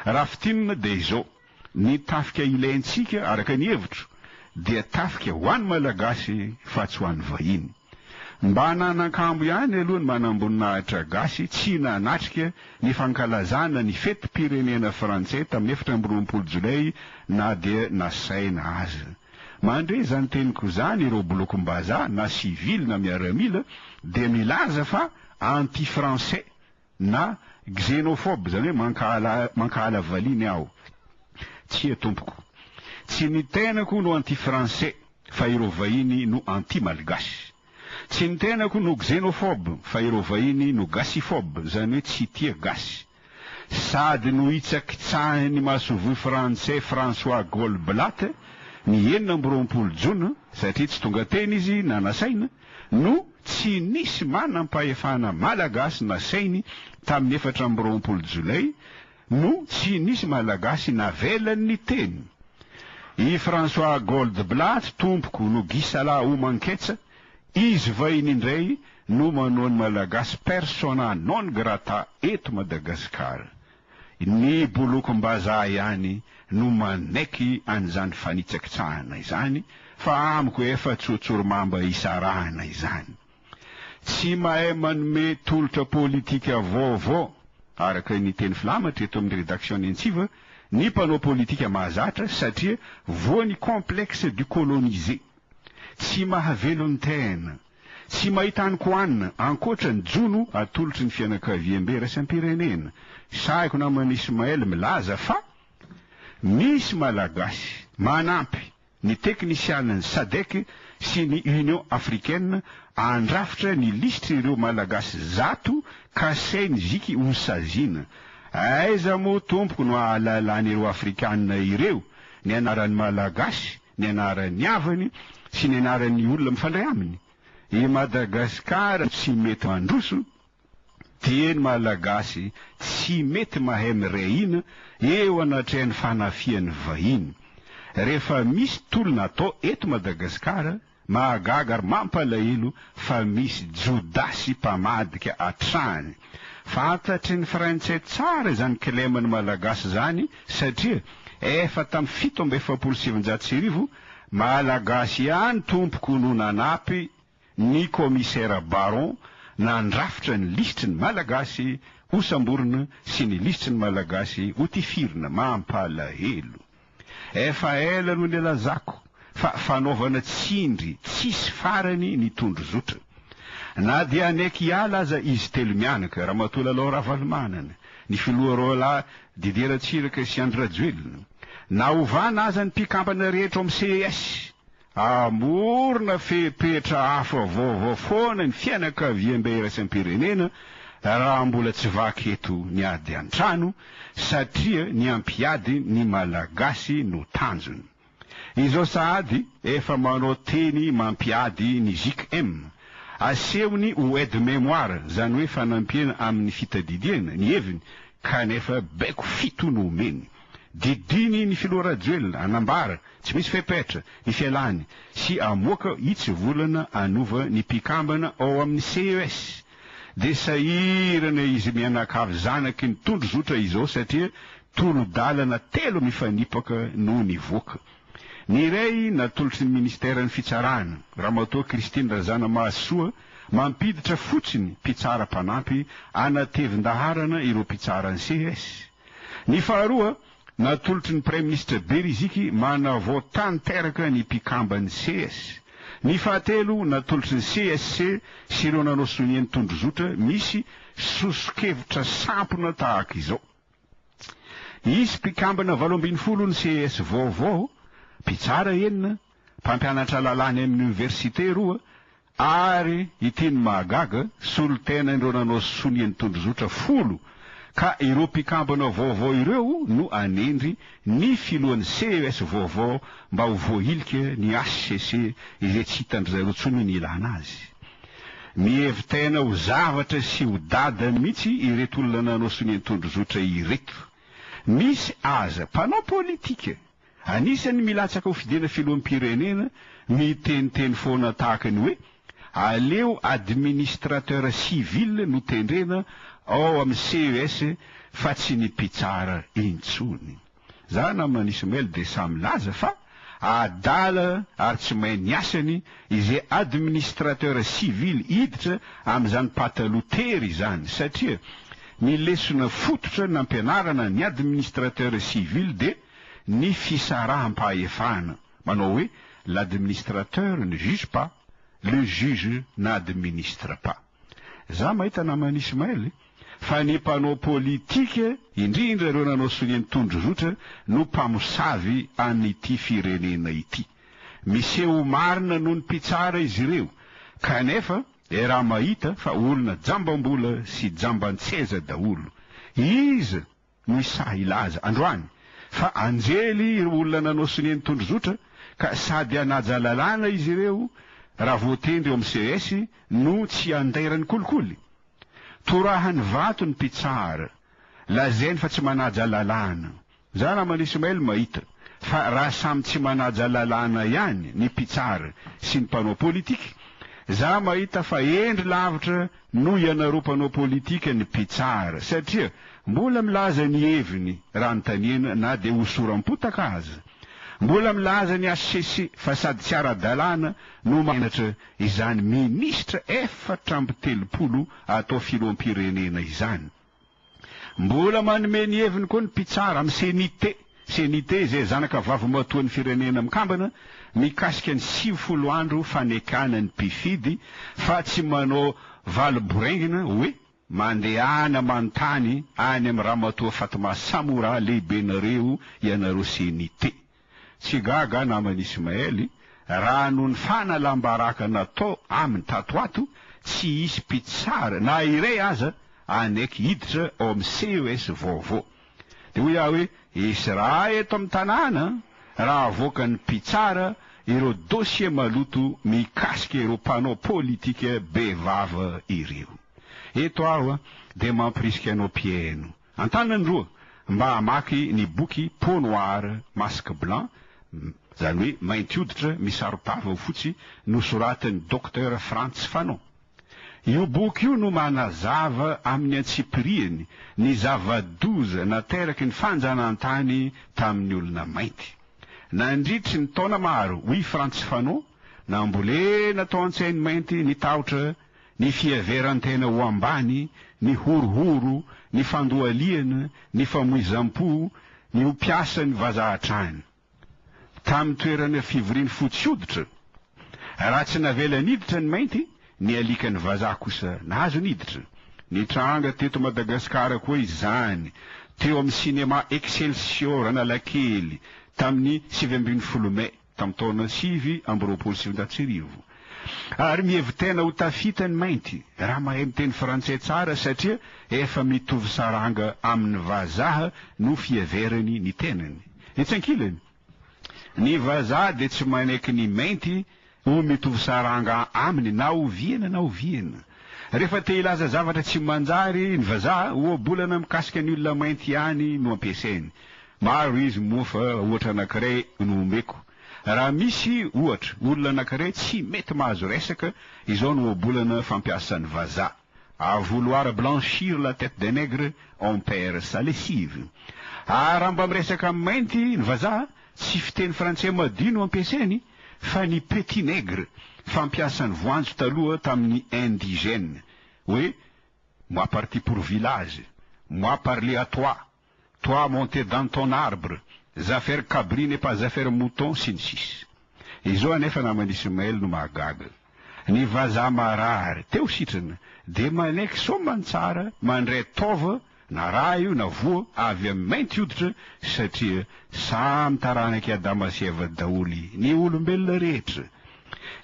Raha fintinina dia izao, ny tafika ilaintsika araka ny hevitro dia tafika ho an'ny Malagasy fa tsy ho an'ny vahiny. Mba hananan-kambo ihany aloha ny manamboninahitra gasy tsy nanatrika ny fankalazana ny fetim-pirenena frantsay tamin'ny efatra amby roapolo jolay na dia nasaina aza. Mandre izany teniko izany ireo bolokom-bazaha na sivily na miaramila dia milaza fa anti-français Na, xénophobe, izany hoe mankahala mankahala valiany aho. Tsia tompoko. Tsy ny tenako no anti français fa ireo vahiny no anti malgache. Tsy ny tenako no xénophobe fa ireo vahiny no gasiphobe, izany hoe tsy tia gasy. Sady nohitsakitsahin'ny masoivoho frantsay François Goldblatt ny enina amby roapolo jona satria tsy tonga teny izy na nasaina, no tsy nisy manam-pahefana malagasy nasainy tamin'ny efatra amby roapolo jolay no tsy nisy malagasy navelany niteny. I François Goldblatt tompoko no gisala homan-ketsa, izy vahiny indray no manao ny malagasy persona non grata eto Madagasikara. Ny bolokom-bazaha ihany no manaiky an'izany fanitsakitsahana izany fa amiko efa tsotsorimamba isarahana izany. Tsy mahay manome tolotra politika vaovao, araka ny teny filamatra eto amin'ny redaction-ny Antsiva, ny mpanao politika mahazatra satria voan'ny complexe du colonisé. Tsy mahavelon-tena. Tsy mahita any ko an, ankoatra ny jono atolotry ny fianakaviambe iraisam-pirenena. Sahiko naman'i Ismaël milaza fa misy Malagasy manampy ny teknisianan'ny Sadec sy ny Union Africaine handrafitra ny lisitry ireo Malagasy zato kasain'i Vicky ho saziana. Aiza moa tompoko no ahalalain'ireo Afrikanina ireo ny anaran'ny Malagasy ny anaran'ny havany sy ny anaran'ny olona mifandray aminy. I Madagasikara tsy mety mandroso, dieny Malagasy tsy mety mahay miray hina eo anatrehan'ny fanafihan'ny vahiny. Rehefa misy tolona atao eto Madagasikara Mahagaga ary mampalahelo fa misy jodasy mpamadika hatrany. Fantatry ny Frantsay tsara izany kilema ny Malagasy izany satria efa tamin'ny fito amby efapolo sy sivinjato sy arivo, Malagasy ihany tompoko no nanampy ny Kaomisera Baron nandrafitra ny lisitry ny Malagasy hosamborina sy ny lisitry ny Malagasy hotifirina. Mampalahelo. Efa ela no nilazako fa fanaovana tsindry tsisy farany ny tondrozotra. Na dia haneky hiala aza izy telo mianaka, Ramatoa Lalao Ravalomanana, ny Filoha Roalahy Didier Ratsiraka sy Andry Rajoelina, na hovana aza ny mpikambana rehetra ao amin'ny ces, Hamorona fepetra hafa vaovao foana ny fianakaviambe iraisam-pirenena raha mbola tsy vaky eto ny ady an-trano satria ny hampiady ny Malagasy no tanjony. Izao sahady efa manao teny mampiady ny JKM, asehony ho aide mémoire, izany hoe fanampiana amin'ny fitadidiana ny heviny kanefa baiko fito no omeny. Didiny ny filoha Rajoelina hanambara tsy misy fepetra ny fialany sy hamoaka hitsivolana hanova ny mpikambana ao amin'ny ces. Dia sahirana izy mianakavy zanaky ny tondrozotra izao satria tolo-dalana telo mifanipaka no nivoaka. Ny iray natolotry ny minisiteran'ny fitsarana, Ramatoa Christine Razanamahasoa, mampiditra fotsiny mpitsara mpanampy hanatevin-daharana ireo mpitsaran'ny ces. Ny faharoa, natolotry ny Praiminisitra Beriziky manavao tanteraka ny mpikamban'ny ces. Ny fahatelo, natolotry ny CSC sy ireo nanao sonia ny tondrozotra misy soso-kevitra sampona tahaka izao. Hisy mpikambana valo ambin'ny folo ny ces vaovao, mpitsara enina, mpampianatra lalàna eny amin'ny oniversite roa, ary ity no mahagaga, solontena indreo nanao sonia ny tondrozotra folo, ka ireo mpikambana vaovao ireo no hanendry ny filohan'ny CES vaovao mba ho voahilika ny hcc izay tsy hitan-dry zareo intsony ny ilàna azy. Mihevi-tena ho zavatra sy ho dada mihitsy ireto olona nanao sonia ny tondrozotra ireto. Misy aza mpanao politika Anisan'ny milatsaka ho fidena filoham-pirenena miteniteny foana tahaka ny hoe aleo administrateur civil no tendrena ao amin'ny CES fa tsy ny mpitsara intsony. Za namana Ismail dia sahy milaza fa adala ary tsy mahay ny asany izay administrateur civil hiditra amin'izany pataloha tery izany satria ny lesona fototra nampianarana ny administrateur civil dia ny fisaraham-pahefana, manao hoe l'administrateur ne juge pas, le juge n'administre pas. Za mahita naman'i Ismaël fa ny mpanao politika, indrindra ireo nanao sonia ny tondrozotra no mpamosavy an'ity firenena ity. Miseho marina noho ny mpitsara izy ireo kanefa era mahita fa olona jambam-bola sy jamban-tseza daholo. Iza? Ny sahy hilaza, androany, fa anjely ireo olona nanao sonia ny tondrozotra, ka sady hanaja lalàna izy ireo, raha voatendry eo amin'ny CS, no tsy handairan'ny kolikoly. Torahany vato ny mpitsara. Lazainy fa tsy manaja lalàna. Za namana Ismail mahita, fa raha samy tsy manaja lalàna ihany ny mpitsara sy ny mpanao politika, za mahita fa hendry lavitra Noho ianareo mpanao politika ny mpitsara satria mbola milaza ny heviny raha anontaniana na dia hosoram-potaka aza. Mbola milaza ny HCC fa sady tsy ara-dalàna no manandratra izany minisitra efatra amby telopolo atao filoham-pirenena izany. Mbola manome ny heviny koa ny mpitsara amin'ny CNIT, CNIT izay zanaka vavimatoan'ny Firenena Mikambana, mikasika ny sivifolo andro fanekana ny mpifidy fa tsy manao valo boraingina hoe, mandehana manontany any amin'ny Ramatoa Fatma Samoura lehibenareo ianareo CNIT. Tsy gaga aho naman'i Ismaely raha noho ny fanalam-baraka natao aminy tato ho ato tsy hisy mpitsara na iray aza hanaiky hiditra ao amin'ny CES vaovao. Dia hoy aho hoe, Esraha eto amin'ny tanàna raha avoakan'ny mpitsara ireo dosie maloto mikasika ireo mpanao politika bevava ireo. Eto aho dia mampirisika anao mpihaino. An-tanany roa mba hamaky ny boky Peau noire, masque blanc, izany hoe mainty hoditra misaro-tava ho fotsy, nosoratan'i Docteur Frantz Fanon. Io boky io no manazava amin'ny antsipiriany ny zava-doza nateraky ny fanjanahantany tamin'ny olona mainty. Nandritry ny taona maro, hoy Frantz Fanon, nambolena tao an-tsain'ny mainty ny tahotra ny fiheveran-tena ho ambany, ny horohoro, ny fandohalihana, ny famoizam-po, ny ho mpiasan'ny vazaha hatrany. Tamin'ny toerana fivorian'ny fotsy hoditra, raha tsy navela niditra ny mainty, ny alikan'ny vazaha kosa nahazo niditra. Nitranga teto Madagasikara koa izany, teo amin'ny Cinéma Excelsior Analakely, tamin'ny sivy ambin'ny folo May. tamin'ny taona sivy amby roapolo sy sivinjato sy arivo, ary mihevi-tena ho tafita ny mainty raha mahay miteny frantsay tsara satria efa mitovy saranga amin'ny vazaha no fiheverany ny tenany. Etsy ankilany, ny vazaha dia tsy manaiky ny mainty ho mitovy saranga aminy na oviana na oviana. Rehefa te hilaza zavatra tsy manjary ny vazaha, ohabolana mikasika ny olona mainty ihany no ampiasainy. Maro izy moa fa ohatra anankiray no omeko. Raha misy, ohatra, olona anankiray tsy mety mahazo resaka, izao no ohabolana fampiasan'ny vazaha, À vouloir blanchir la tête d'un nègre, on perd sa lessive. À raha mba miresaka amin'ny mainty ny vazaha, tsy fiteny frantsay madio no ampiasainy, fa ny petit nègre, fampiasan'ny voanjo taloha tamin'ny indigènes, hoe, Moi parti pour village, moi parler à toi, toi monter dans ton arbre, za faire cabri n'est pas za faire mouton sy ny sisa Izao anefa naman'i Ismaël no mahagaga. Ny vazaha marary teo sitrana dia manaiky soamantsara mandray taova na rà io na voa avy amin'ny mainty hoditra satria samy taranak'i Adama sy Eva daholo ny olombelona rehetra.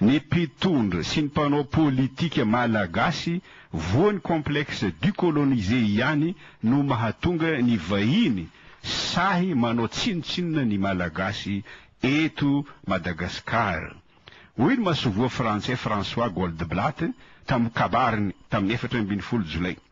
Ny mpitondra sy ny mpanao politika malagasy voan'ny complexe du colonisé ihany no mahatonga ny vahiny sahy manao tsinontsinona ny malagasy eto Madagascar. Hoy ny masoivoho frantsay François Goldblatt tamin'ny kabariny tamin'ny efatra ambin'ny folo jolay.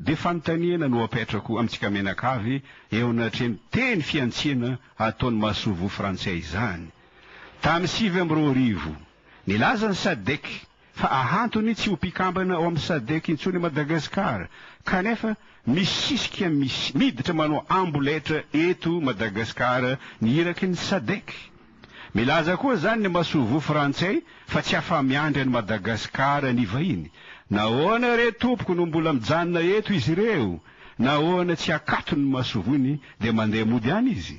Dia fanontaniana no apetrako amintsika mianakavy eo anatrehan'ny teny fihantsiana ataon'ny masoivoho frantsay izany. Tamin'ny sivy amby roa arivo, nilaza ny Sadc fa ahantony tsy ho mpikambana ao amin'ny Sadc intsony i Madagasikara, kanefa misisika miditra manao amboletra eto Madagasikara ny iraky ny Sadc. Milaza koa izany ny masoivoho frantsay fa tsy afa-miandry an'i Madagasikara ny vahiny. Nahoana re tompoko no mbola mijanona eto izy ireo? Nahoana tsy akatony ny masoivohony dia mandeha mody any izy?